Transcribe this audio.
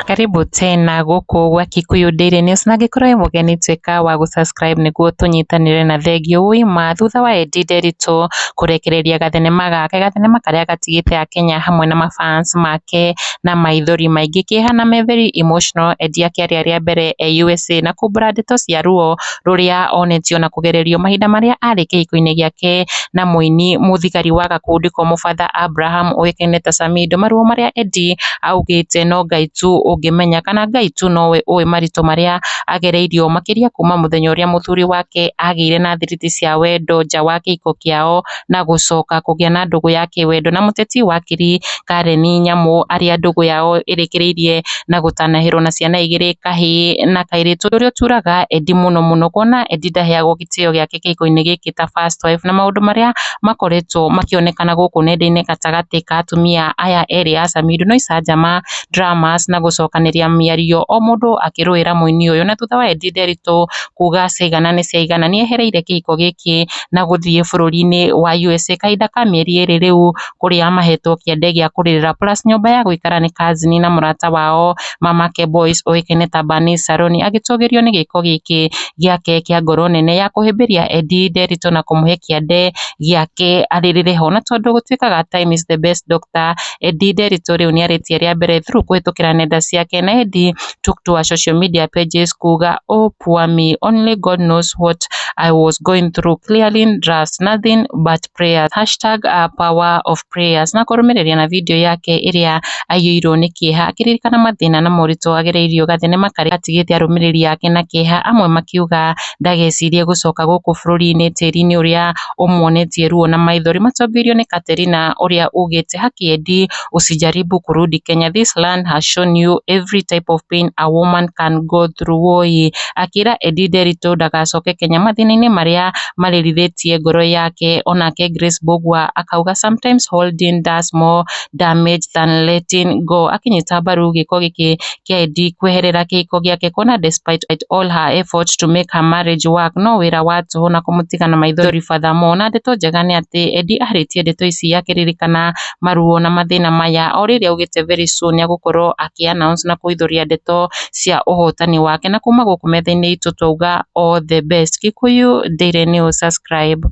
Karibu tena gũkũ gwa Kikuyu Daily News na angĩkorwo wĩ mũgeni tuĩka wa gũ subscribe nĩguo tũnyitanĩre na thengiũ wĩ ma thutha wa Eddie Nderitu kũrekereria gathenema gake gathenema karĩa gatigĩte Akenya hamwe na ma fans make na maithori maingĩ kehana me very emotional Eddie akĩaria rĩa mbere e USA na kumbũra ndeto cia ruo rũrĩa onetio na kũgererio mahinda marĩa arĩ kĩhiko-inĩ gĩake na mũini mũthigari wa gakundi komũ Father Abraham ũĩkaine ta Samido. Maruo marĩa Eddie augĩte no Ngai tu ũngĩmenya kana Ngai tu nowe ũĩ maritũ marĩa agereirio makĩria kuma mũthenya ũrĩa mũthuri wake agĩire na thiriti cia wendo nja wa kĩhiko kĩao na gũcoka kũgĩa na ndũgũ ya kĩwendo na mũteti wakiri Karen Nyamu arĩa ndũgũ yao ĩrĩkĩrĩirie na gũtanahĩrwo na ciana igĩrĩ kahĩ na kairĩtu ũrĩa ũturaga Eddie mũno mũno kuona Eddie ndaheagwo gĩtĩo gĩake kĩhiko-inĩ gĩkĩ ta first wife na maũndũ marĩa makoretwo makĩonekana gũkũ nenda-inĩ gatagatĩ ka atumia aya erĩ a Samido no icanjama, dramas na gũcokanĩria mĩario o mũndũ akĩrũĩra mũini ũyũ na thutha wa Eddie Nderitu kuga ciaigana nĩ ciaigana nĩehereire kĩhiko gĩkĩ na gũthiĩ bũrũri-inĩ wa USA kahinda ka mĩeri ĩrĩ rĩu, kũrĩa mahetwo kĩande gĩa kũrĩrĩra plus nyũmba ya gũikara nĩ cousin na mũrata wao mamake Boyce ũĩkaine ta Bernice Saroni agĩtũgĩrio nĩ gĩko gĩkĩ gĩake kĩa ngoro nene ya kũhĩmbĩria Eddy nderitũ na kũmũhe kĩande gĩake arĩrĩre ho. Na tondũ gũtuĩkaga time is the best doctor, Eddy Nderitu rĩu nĩarĩtie rĩa mbere through kũhĩtũkĩra nenda ciake na Eddy took to her social media pages kuuga oh poor me only God knows what I was going through clearly was nothing but prayers hashtag uh, power of prayers na kũrũmĩrĩria na video yake ĩrĩa aiyũirwo nĩ kĩeha akĩririkana mathĩna na moritũ agereirio gathenema karĩa atigĩte arũmĩrĩri ake na kĩeha amwe makiuga ndagecirie gũcoka gũkũ bũrũri-inĩ tĩri-inĩ ũrĩa ũmuonetie ruo na maithori matongoirio nĩ Katerina ũrĩa ugĩte hakĩendi usijaribu kurudi Kenya this land has shown you every type of pain a woman can go through woyee, akĩra Eddie Nderitu ndagacoke Kenya mathĩna-inĩ marĩa marĩrithĩtie ngoro yake, onake Grace Mbũgua akauga sometimes holding does more damage than letting go, akĩnyita mbaru gĩko gĩkĩ kĩa Eddie kweherera kĩhiko gĩake kuona despite all her effort to make her marriage work no wĩra wa tũhũ na kũmũtiga na maithori furthermore, na ndeto njega nĩ atĩ Eddie arĩtie ndeto ici akĩririkana maruo na mathĩna maya, o rĩrĩa augĩte very soon nĩ egũkorwo akĩ announce na kũihũria ndeto cia ũhotani wake, na kuma gũkũ metha-inĩ itũ twauga all the best. Gĩkũyũ Daily News subscribe.